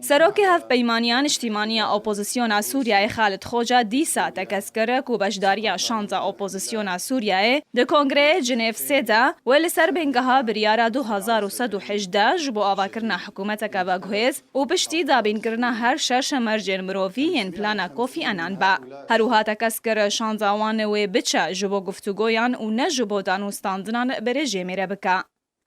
Serokê Hevpeymaniya Niştîmanî ya Opozisyona Sûriyeyê Xalid Xoca dîsa tekez kir ku beşdariya şans a opozisyona Sûriyeyê di Kongreyê Cinêv sê de wê li ser bêngeha Biryara du hezar û sed û hejdeh ji bo avakirina hikûmeteke veguhêz û piştî dabînkirina her şeş mercên mirovî yên Plana Kofî Enan be. Herwiha tekez kir şansa wan wê biçe ji bo guftûgoyan û ne ji bo danûstandinan bi rejîmê re bike.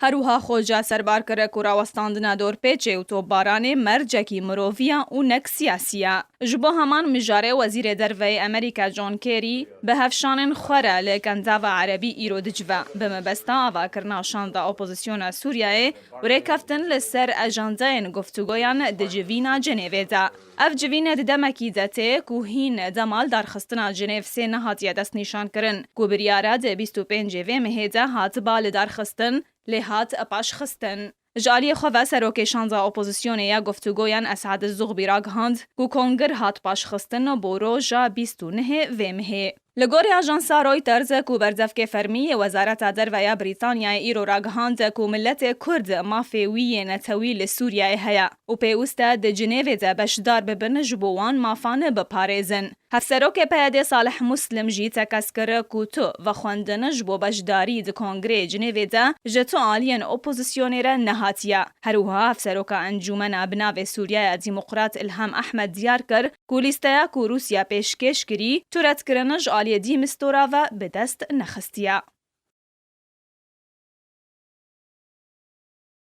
Herwiha Xoca serbar kir ku rawestandina dorpêçê û topbaranê mercekî mirovî ya û nek siyasî ya. Ji bo heman mijarê Wezîrê Derveyê Amerîka John Kerry bi hevşanên xwe re li Kentava Erebî îro dicive, bi mebesta avakirina şanda opozisyona Sûriyeyê û rêkeftin li ser ajandayên guftûgoyan di civîna Cenêvê de. Ev civîn di demekî de tê ku hîn dema li darxistina Cenêv sê nehatiye destnîşankirin, ku biryara di bîst û pêncê vê mehê de hatiba lidarxistin, lê hat paşxistin. Ji aliyê xwe ve Serokê Şanda Opozisyonê ya Guftûgoyan Esad Zûxbî ragihand ku kongir hat paşxistin bo roja bîst û nehê vê mehê. Li gorî ajansa Reuters ku berzevkê fermî yê Wezareta Derve ya Brîtanyayê îro ragihand ku miletê Kurd mafê wî yê netewî li Sûriyeyê heye û pêwist e di Cinêvê de beşdar bibin ji bo wan mafan biparêzin. Hevserokê PYD'ê Salih Muslim jî tekez kir ku tu vexwendin ji bo beşdarî di kongreyê Cinêvê de ji tu aliyên opozisyonê re nehatiye. Herwiha hevseroka encûmena bi navê Sûriyaya Dîmoqrat Îlham Ehmed diyar kir, ku lîsteya ku Rûsya pêşkêş kirî tu redkirine ji aliyê De Mistura ve bi dest nexistiye.